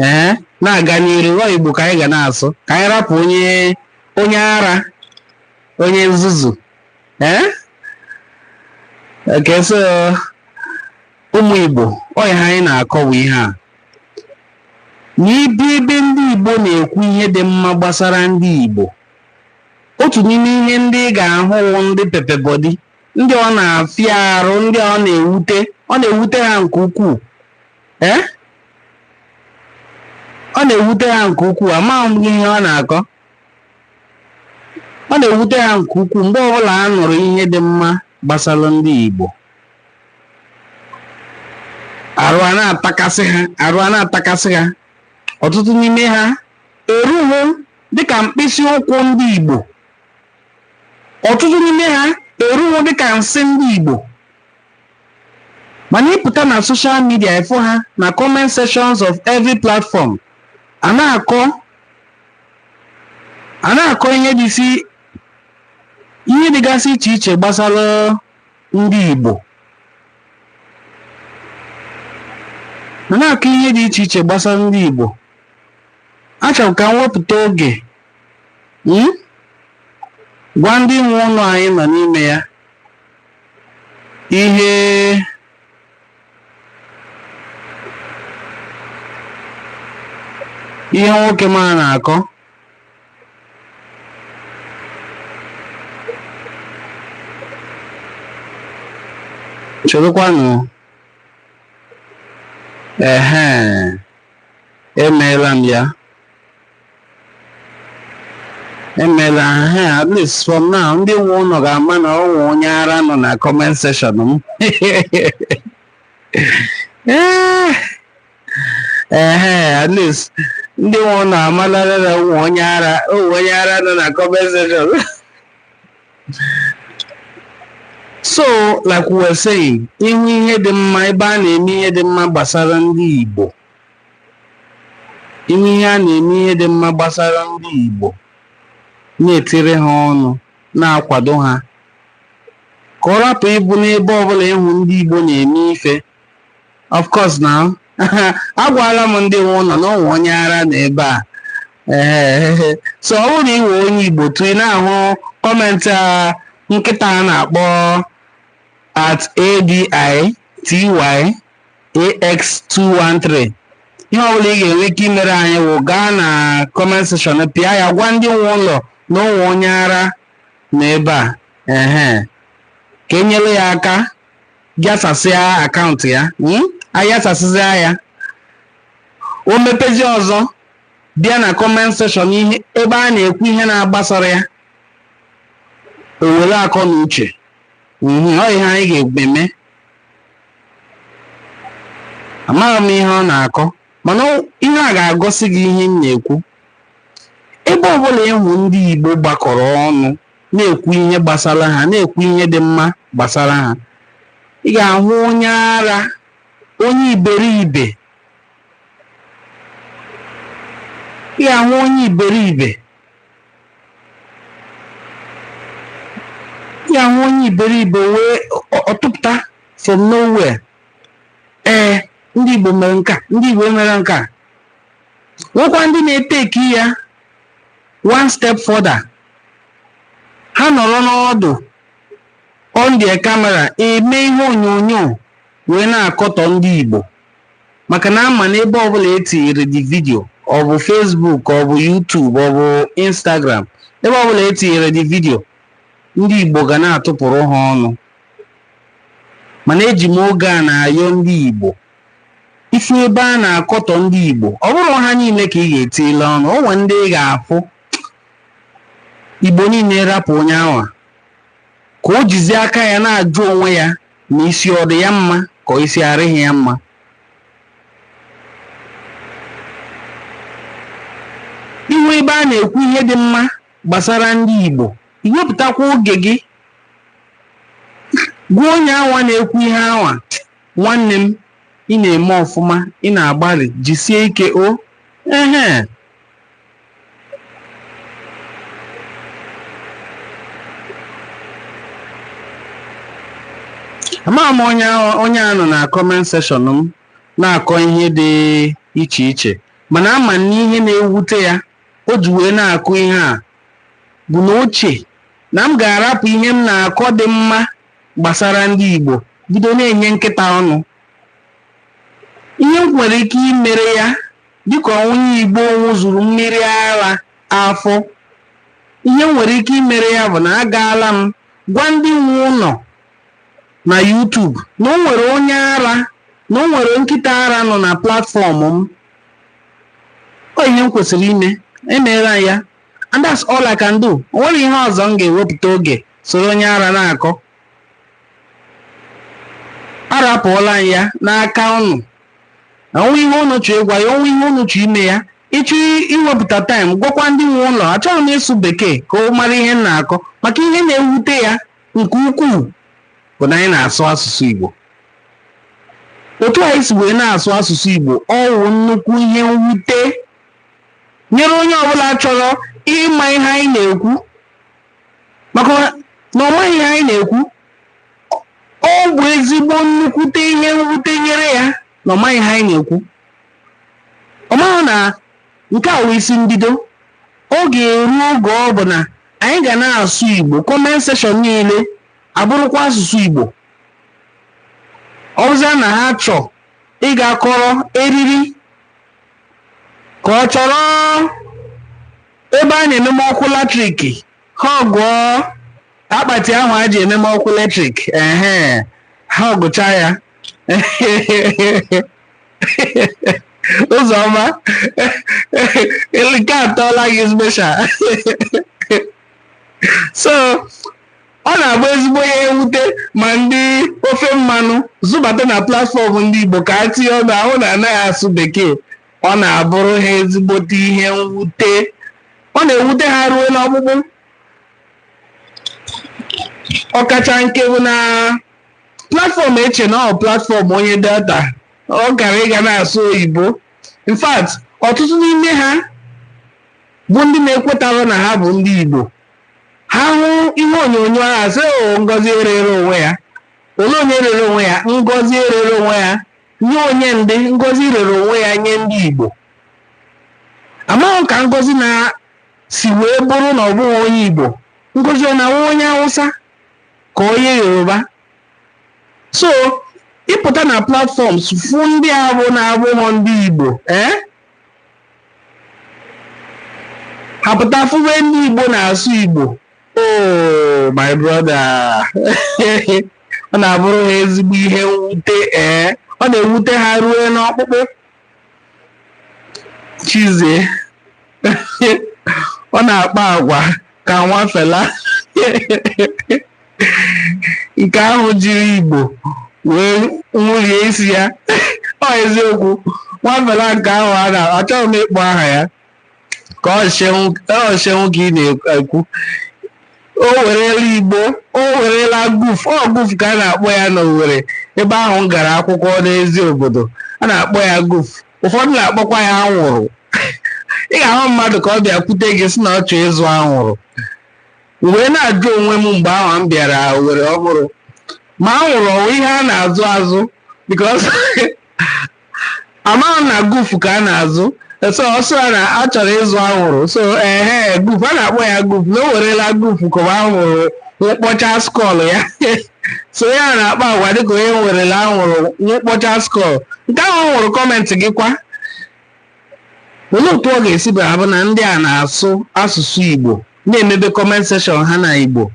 ee na-aga n'iru ọ igbo ka anyị ga na-asụ ka anyị rapụ onye onye ara onye nzuzu ee okay so ụmụ igbo ọ ihe anyị na-akọwa ihe a na ị bịa ebe ndị igbo na-ekwu ihe dị mma gbasara ndị igbo otu n'ime ihe ndị ị ga-ahụ wụ ndị pepper body ndị ọ na-afịa arụ ndị ọ na-ewute ọ na-ewute ha nke ukwuu ee ọ na-ewute ha nke ukwuu amaghị m ihe ọ na-akọ ọ na-ewute ha nke ukwuu mgbe ọbụla a nụrụ ihe dị mma gbasara ndị Igbo arụ a na-atakasị ha arụ a na-atakasị ha ọtụtụ n'ime ha erughị dịka mkpịsị ụkwụ ndị Igbo ọtụtụ n'ime ha erughị dịka nsị ndị Igbo mana ị pụta na social media ị fụ ha na comment sections of every platform a na-akọ a na-akọ ihe dịsi ihe dịgasị iche iche gbasara ndị Igbo a na-akọ ihe dị iche iche gbasara ndị Igbo achọrọ m ka m wepụta oge hmm, gwa ndị nwe ụlọ anyị nọ n'ime ya ihe ihe nwoke m a na-akọ cherekwanụ ehe emeela m ya emela ha at least from now ndị nwe ụlọ ga-ama na ọ nwe onye ara nọ na comment section m Eh, ehe at least ndị nwe ụlọ amalala na o nwe onye ara o nwe onye ara nọ na comment section so like we were saying ị hụ ihe dị mma ebe a na-eme ihe dị mma gbasara ndị Igbo ime ihe a na-eme ihe dị mma gbasara ndị Igbo na-etiri ha ọnụ na-akwado ha ka ọ rapụ ịbụ n'ebe ọbụla ị hụ ndị Igbo na-eme ife of course na agwala m ndị nwe ụlọ na o nwe onye ara na ebe a ee so ọ bụrụ na ị wụ onye Igbo too ị na-ahụ kọmentị a nkịta a na-akpọ at ADITY AX213 ihe ọbụla ị ga-enwe ike imere anyị wụ gaa na comment section pịa ya gwa ndị nwe ụlọ na o nwe onye ara na ebe a ehe ka e nyere ya aka ghasasịa akaụntụ ya hmm? a yasasịzịa ya o mepezi ọzọ bịa na comment section ihe ebe a na-ekwu ihe na-agbasara ya o were akọ na uche Mhm, ọ ihe anyị ga-eme amaghị m ihe ọ na-akọ mana ihe a ga-agọsị gị ihe m na-ekwu ebe ọbụla ị hụ ndị Igbo gbakọrọ ọnụ na-ekwu ihe gbasara ha na-ekwu ihe dị mma gbasara ha ị ga-ahụ onye ara onye iberibe ị ga-ahụ onye iberibe ya hụ onye iberibe wee ọ tụpụta from nowhere ee ndị Igbo mere nke a ndị Igbo mere nke a nwekwa ndị na-eteki ya one step further ha nọrọ n'ọdụ on their camera eme ihe onyonyo wee na-akọtọ ndị Igbo maka na a ma na ebe ọbụla e tinyere the video ọ bụ Facebook ọ bụ YouTube ọ bụ Instagram ebe ọbụla e tinyere the video ndị Igbo ga na-atụpụrụ ha ọnụ mana eji m oge a na-ayọ ndị Igbo ị fụ ebe a na-akọtọ ndị Igbo ọ bụrọ ha niile ka ị ga-etile ọnụ o nwere ndị ị ga-afụ Igbo niile rapụ onye anwa ka o jizi aka ya na-ajụ onwe ya ma isi ọ dị ya mma ka isi arịghị ya mma ị hụ ebe a na-ekwu ihe dị mma gbasara ndị Igbo i wepụtakwa oge gị gwa onye anwa na-ekwu ihe anwa nwanne m ị na-eme ọfụma ị na-agbalị jisie ike o ehe amaghị m onye a nọ na kọment sekshọn m na-akọ ihe dị iche iche mana ama m na ihe na-ewute ya o ji wee na-akọ ihe a bụ na o che na m ga-arapụ ihe m na-akọ dị mma gbasara ndị Igbo bido na-enye nkịta ọnụ ihe m nwere ike imere ya Dịka onye Igbo ṅụzuru mmiri ara afọ, ihe m nwere ike imere ya bụ na agaala m gwa ndị nwe ụlọ na YouTube na o nwere onye ara na o nwere nkịta ara nọ na platfọm m. Ọ ihe m kwesịrị ime, emeela m ya and that's all I can do. O nwerọ ihe ọzọ m ga-ewepụta oge soro onye ara na-akọ. Arapụọla m ya n'aka ụnụ. o nwee ihe unu chọọ ịgwa ya o nwee ihe unu chọọ ime ya ị chọọ iwepụta taịm gwakwa ndị nwe ụlọ achọghị m ịsụ bekee ka ọ mara ihe m na-akọ maka ihe na-ewute ya nke ukwuu bụ na anyị na-asụ asụsụ Igbo otu anyị si wee na-asụ asụsụ Igbo ọ wụ nnukwu ihe mwute nyere onye ọbụla chọrọ ịma ihe anyị na-ekwu maka na ọ maghị ihe anyị na-ekwu ọ bụ ezigbo nnukwute ihe mwute nyere ya na ọ maghị ihe anyị na-ekwu ọ maghị na nke a wụ isi mbido ọ ga-eru oge ọ bụ na anyị ga na-asụ igbo kọment seshọn niile abụrụkwa asụsụ igbo ọ bụzịa na ha chọọ ịga kọrọ eriri ka ọ chọrọ ebe a na-ememe ọkụ latrik ha họgụọ akpati ahụ a ji ememe ọkụ latrik ehe ha họgụcha ya ụzọma nke atọọla gị special so ọ na-agba ezigbo ihe mwute ma ndị ofe mmanụ zụbata na platfọm ndị Igbo ka ha tinye ọnụ ahụ na anaghị asụ bekee ọ na-abụrụ ha ezigbote ihe mwute ọ na-ewute ha ruo n'ọkpụkpụ ọkacha nke bụ na platfọm eche na ọ platfọm onye delta ọ gaara ịga na-asụ oyibo in fact ọtụtụ n'ime ha bụ ndị na-ekwetara na ha bụ ndị igbo ha hụ ihe onyonyo ahụ asị o ngozi erere onwe ya olee onye rere onwe ya ngozi erere onwe ya nye onye ndị ngozi rere onwe ya nye ndị Igbo amaghị ka ngozi na-esi wee bụrụ na ọ bụghị onye Igbo ngozi ọ na-awụ onye Hausa ka onye Yoruba so ịpụta na platfọms fụ ndị abụ na-abụghị ndị Igbo ee eh? ha pụta fụwe ndị Igbo na-asụ Igbo oh my brother ọ na-abụrụ ha ezigbo ihe mwute ee ọ na-ewute ha ruo n'ọkpụkpụ chizie ọ na-akpa agwa ka nwa fela nke ahụ jiri igbo wee nwụrie isi ya ọ eziokwu nwa fela nke ahụ a na achọghị m ịkpọ aha ya ka ọ seun ka ị na-ekwu o werela igbo o werela guf ọ guf ka a na-akpọ ya na owere ebe ahụ m gara akwụkwọ n'eziobodo a na-akpọ ya guf ụfọdụ na-akpọkwa ya anwụrụ ị ga-ahụ mmadụ ka ọ bịa kwute gị sị na ọ chọrọ ịzụ anwụrụ m wee na-ajụ onwe m mgbe ahụ m bịara owere ọhụrụ ma anwụrụ ọ wụ ihe a na-azụ azụ because amaghị na gufu ka a na-azụ so ọ sịrị na a chọrọ ịzụ anwụrụ so ehe gufu a na-akpọ ya gufu na o werela gufu ka ọ bụ anwụrụ nwụkpọcha skull ya so ya na-akpa agwa dịka onye werela anwụrụ nwụkpọcha skull nke ahụ ọ nwụrụ kọmentị gị kwa olee otu ọ ga-esi bịa abụ na ndị a na-asụ asụsụ igbo na-emebe comment section ha na igbo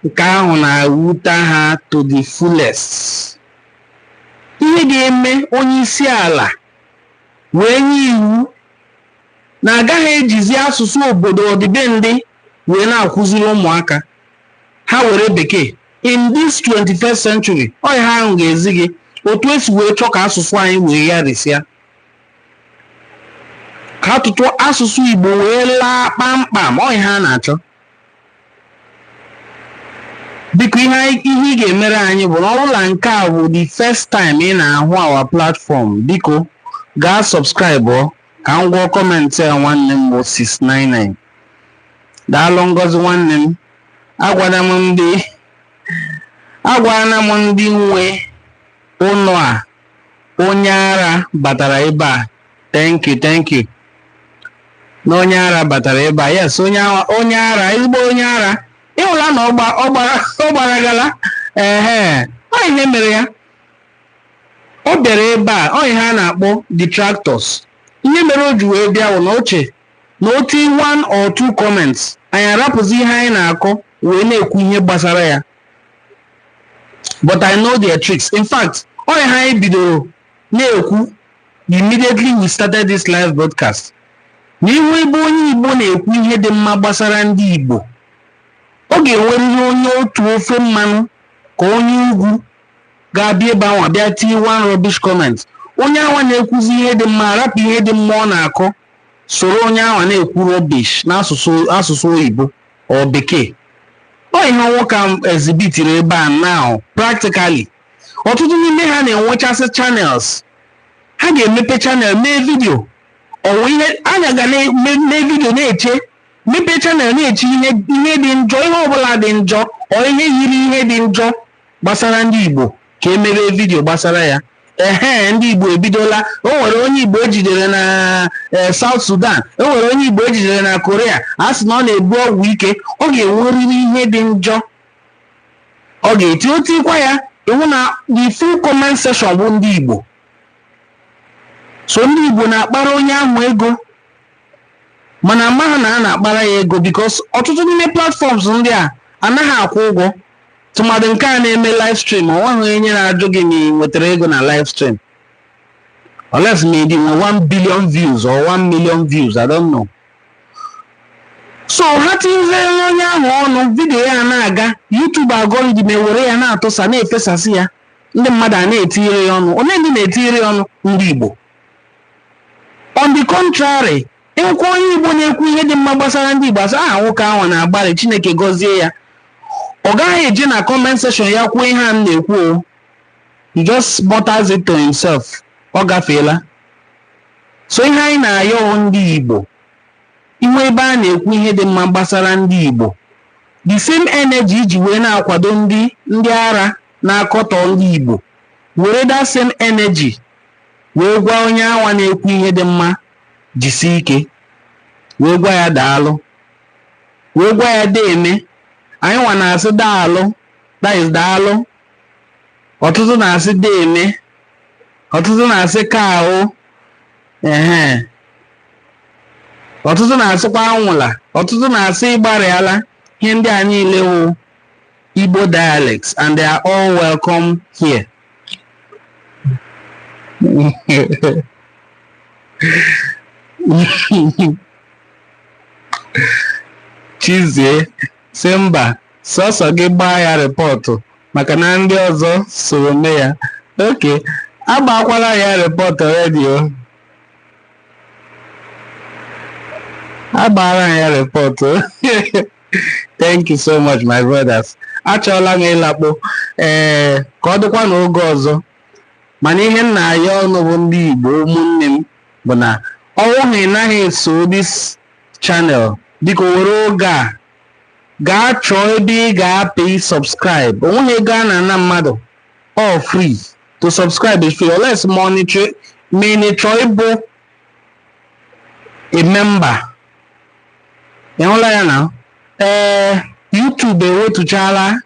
nke ahụ na-ewute ha to the fullest ihe ga-eme onye isi ala wee nye iwu na a gaghị ejizi asụsụ obodo ọdịbendị wee na-akụziri ụmụaka ha were bekee in this 21st century ọ ihe ahụ ga-ezi gị otu e si wee chọọ ka asụsụ anyị wee ya risịa ka atụtụ asụsụ Igbo wee laa kpamkpam ọ ihe a na-achọ biko ihe ihe ị ga-emere anyị bụ na ọ bụrụ na nke a bụ the first time ị na-ahụ our platform biko gaa subscribe ka m gụọ comment a nwanne m bụ 699 daalụ Ngozi nwanne m agwala m ndị agwala m ndị nwe ụlọ a onye ara batara ebe a thank you thank you na onye ara batara ebe a yes onye ara onye ara ezigbo onye ara ị hụla na ọ gba- ọ gbara ọ gbaragala ehe ọ ihe mere ya ọ bịara ebe a ọ ihe a na-akpọ detractors ihe mere o ji wee bịa wụ na o che na o tie one or two comments anyị arapụzi ihe anyị na-akọ wee na-ekwu ihe gbasara ya but I know their tricks in fact ọ ihe anyị bidoro na-ekwu immediately we started this live broadcast na ị hụ ebe onye Igbo na-ekwu ihe dị mma gbasara ndị Igbo ọ ga-enwerịrị onye otu ofe mmanụ ka onye ugwu ga-abịa ebe ahụ bịa tie one rubbish comment onye awa na-ekwuzi ihe dị mma arapụ ihe dị mma ọ na-akọ soro onye awa na-ekwu rubbish n'asụsụ asụsụ Igbo or bekee ọ ihe nwoke a exhibitiri ebe a now practically ọtụtụ n'ime ha na-enwechasị channels ha ga-emepe channel mee vidio ọ wụ ihe anya ga na-eme mee vidio na-eche mepee channel na-eche ihe ihe dị njọ ihe ọbụla dị njọ or ihe yiri ihe dị njọ gbasara ndị Igbo ka e mebe vidio gbasara ya ehe ndị Igbo ebidola o nwere onye Igbo e jidere na eh, South Sudan o nwere onye Igbo e jidere na Korea a sị na ọ na-ebu ọgwụ ike ọ ga-enwerịrị ihe dị njọ ọ ga-eti o tikwa ya ị hụ na the full comment section bụ ndị Igbo so ndị Igbo na-akpara onye ahụ ego mana amaghị na ha na-akpara ya ego because ọtụtụ n'ime platforms ndị a anaghị akwụ ụgwọ tụmadụ nke a na-eme live stream ọ nweghị onye na-ajụ gị na ị nwetara ego na live stream unless ma ị dị nwe 1 billion views or 1 million views I don't know so ha tinyere onye ahụ ọnụ vidiyo ya na-aga YouTube algorithm ewere ya na-atụsa na-efesasị ya ndị mmadụ a na-etinyere ya ọnụ onye ndị na-etinyere ya ọnụ ndị Igbo on the contrary Ị hụkwa onye Igbo na-ekwu ihe dị mma gbasara ndị Igbo a sị aha nwoke anwa na-agbalị Chineke gọzie ya ọ gaghị eje na comment section ya kwuo ihe a m na-ekwu o he just mutters it to himself ọ gafeela so ihe anyị na-ayọ ndị Igbo i nwee ebe a na-ekwu ihe dị mma gbasara ndị Igbo the same energy i ji wee na-akwado ndị ndị ara na-akọtọ ndị Igbo were that same energy wee gwa onye anwa na-ekwu ihe dị mma jisie ike wee gwa ya daalụ wee gwa ya deeme anyị nwa na-asị daalụ that is daalụ ọtụtụ na-asị deeme ọtụtụ na-asị ka ahụ ehe ọtụtụ na-asịkwa anwụla ọtụtụ na-asị ị gbarịala ihe ndị a niile wụ Igbo dialects and they are all welcome here. Chizie sị mba sọsọ gị gbaa ya rịpọtụ maka na ndị ọzọ soro mee ya okay agbakwala ya rịpọtụ redio agbaara ya rịpọtụ thank you so much my brothers achọọla m ịlakpo ee ka ọ dịkwa n'oge ọzọ mana ihe m na-ayọ unu bụ ndị igbo ụmụnne m bụ na ọ wụrụ na ị naghị eso this channel biko were oge a gaa chọọ ebe ị ga-apị subscribe o nweghị ego a na-ana mmadụ all free to subscribe is free unless ma ị na-achọ ịbụ a member ị hụla ya na ee YouTube ewetuchala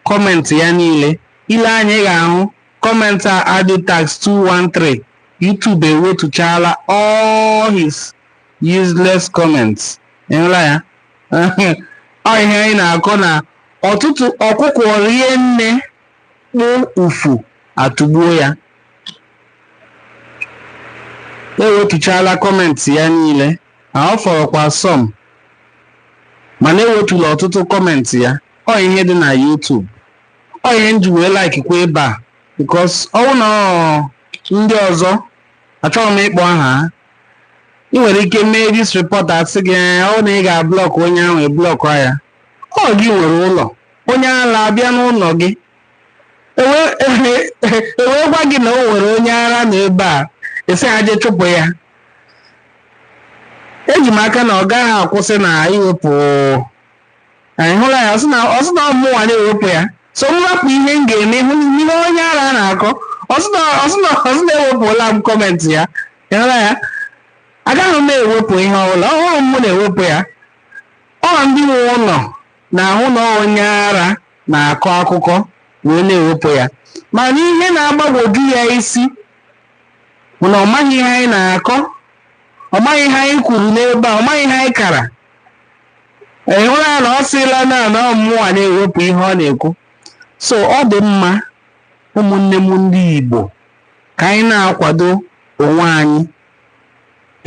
kọmentị ya niile i lee anya ị gaghị ahụ kọmentị a aditax 213 YouTube ewetuchala all his useless comments ị hụla ya ọ ihe anyị na-akọ na ọtụtụ ọkụkọ rie nne kpụ ufu atụgbuo ya ewetuchala kọmentị ya niile na ọ fọrọkwa some mana ewetula ọtụtụ kọmentị ya ọ ihe dị na YouTube ọ ihe m ji wee like kwa ebe a because ọwụ na ọ ndị ọzọ achọghị m ịkpọ aha ha ị nwere ike mee this report asị gị ee ọ na ị ga-ablọkụ onye ahụ eblọkụ ya ọ gị nwere ụlọ onye ala abịa n'ụlọ gị ewee gwa gị na o nwere onye ara na ebe a asị ha je chụpụ ya eji m aka na ọ gaghị akwụsị na iwepụ ị hụla ya ọ sị na ọ mụnwa na-ewepụ ya so m rapụ ihe m ga-eme hụ n'ihe onye ara na-akọ ọ sị na ewepụla m kọmentị ya ị hụla ya agaghị m ewepụ ihe ọbụla ọ wụghị m na-ewepụ ya ọ ndị nwe ụlọ na-ahụ na ọ onye ara na-akọ akụkọ wee na-ewepụ ya mana ihe na-agbagwoju ya isi bụ na ọ maghị ihe anyị na-akọ ọ maghị ihe anyị kwuru n'ebe a ọ maghị ihe anyị kara ị hụla ya na ọ sịla na na ọ mụnwa na-ewepụ ihe ọ na-ekwu so ọ dị mma ụmụnne m ndị Igbo ka anyị na-akwado onwe anyị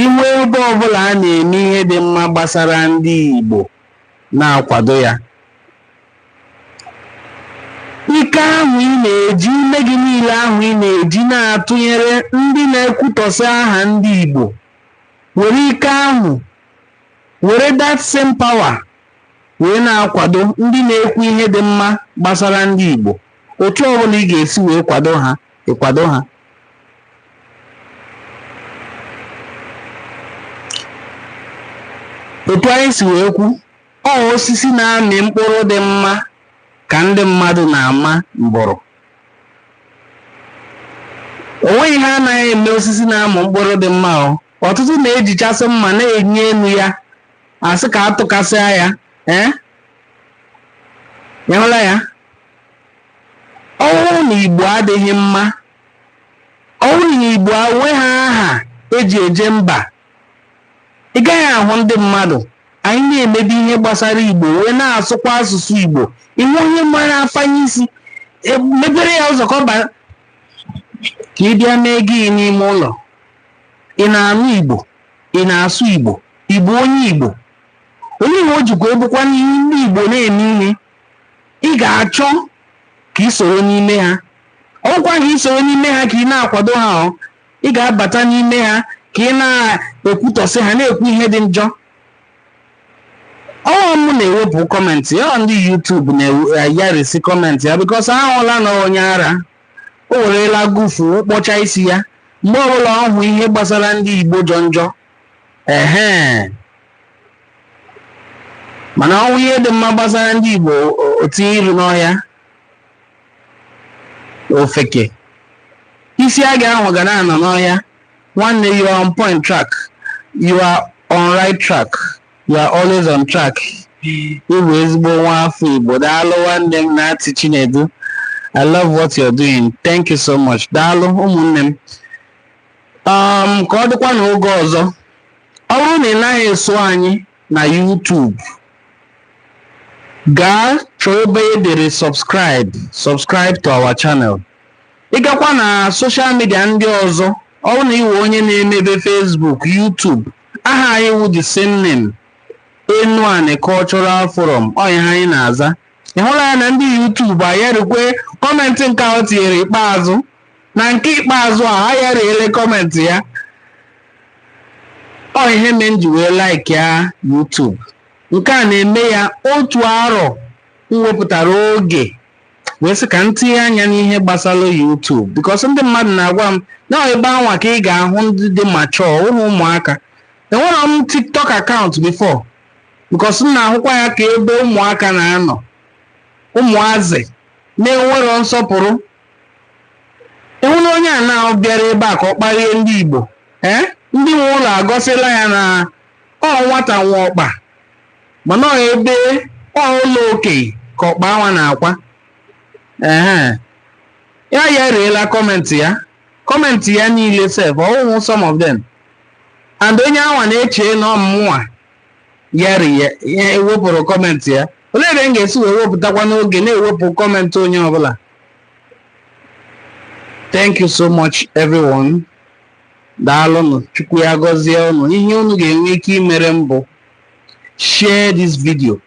ị hụ ebe ọbụla a na-eme ihe dị mma gbasara ndị Igbo na-akwado ya ike ahụ ị na-eji ume gị niile ahụ ị na-eji na-atụnyere ndị na-ekwutọsị aha ndị Igbo were ike ahụ were that same power wee na-akwado ndị na-ekwu ihe dị mma gbasara ndị Igbo otu ọbụla ị ga-esi wee kwado ha ịkwado ha otu anyị si wee kwu ọ osisi na-amị mkpụrụ dị mma ka ndị mmadụ na-ama mbụrụ o nweghị ihe anaghị eme osisi na-amị mkpụrụ dị mma o ọtụtụ na-ejichasị mma na-enyi elu ya asị ka atụkasịa ya ị hụla ya ọwụ na igbo adịghị mma ọwụ na igbo enweghị aha eji eje mba ị gaghị ahụ ndị mmadụ anyị na-emebi ihe gbasara igbo wee na-asụkwa asụsụ igbo ị hụ onye mba na-afanye isi emepere ya ụzọ ka ọ baa ka ị bịa mee gịnị n'ime ụlọ ị na-anụ igbo ị na-asụ igbo ị bụ onye igbo onye igbo o jikwa ebukwa n'ihe ndị igbo na-eme ihe ị ga-achọ ka ị soro n'ime ha ọkwa ka ị soro n'ime ha ka ị na-akwado ha ọ ị ga-abata n'ime ha ka ị na-ekwutọsị ha na-ekwu ihe dị njọ ọwa m na-ewepụ kọmentị ya ọ ndị YouTube na-ayarisi kọmentị ya because a hụla na ọ onye ara o werela gufu kpọcha isi ya mgbe ọbụla ọ hụ ihe gbasara ndị igbo jọ njọ ehe mana ọ hụ ihe dị mma gbasara ndị Igbo o tinye iru n'ọhịa ofeke isi a ga-ahụ ga na-anọ n'ọhịa nwanne you are on point track you are on right track you are always on track ị bụ ezigbo nwa afọ Igbo daalụ nwanne m Natty Chinedu I love what you're doing. Thank you so much. Daalụ ụmụnne m. um ka ọ dịkwa n'oge ọzọ ọ bụrụ na ị naghị eso anyị na YouTube gaa chọọ ebe e dere subscribe subscribe to our channel ị gakwa na social media ndị ọzọ ọ bụrụ na ị wụ onye na-emebe Facebook YouTube aha anyị wụ the same name Enuani Cultural Forum ọ ihe anyị na-aza ị hụla ya na ndị YouTube ayarikwe kọmentị nke ahụ o tinyere ikpeazụ na nke ikpeazụ a ha ayariele kọmentị ya ọ ihe mere m ji wee like ya YouTube nke a na-eme ya otu arọ m wepụtara oge wee sị ka m tinye anya n'ihe gbasara YouTube because ndị mmadụ na-agwa m na ọ ebe anwa ka ị ga-ahụ ndị dị mature ọ wụhụ ụmụaka enwero m TikTok account before because m na-ahụkwa ya ka ebe ụmụaka na-anọ ụmụazị na-enwero nsọpụrụ ị hụla onye anwa bịara ebe a ka ọ kparie ndị igbo ee ndị nwe ụlọ agwasịla ya na ọ nwata nwe ọkpa mana ọ ebe ọ ụlọ okenye ka ọkpa anwa na-akwa ehe ya ayariela kọmentị ya kọmentị ya niile sef ọ wụhụ some of them and onye anwa na-eche na ọ mụnwa yari ya ya ewepụrụ kọmentị ya olee ebe m ga-esi wee wepụtakwanụ oge na-ewepụ kọmentị onye ọbụla thank you so much everyone daalụnụ chukwu ya gọzie unu ihe unu ga-enwe ike imere m bụ share this video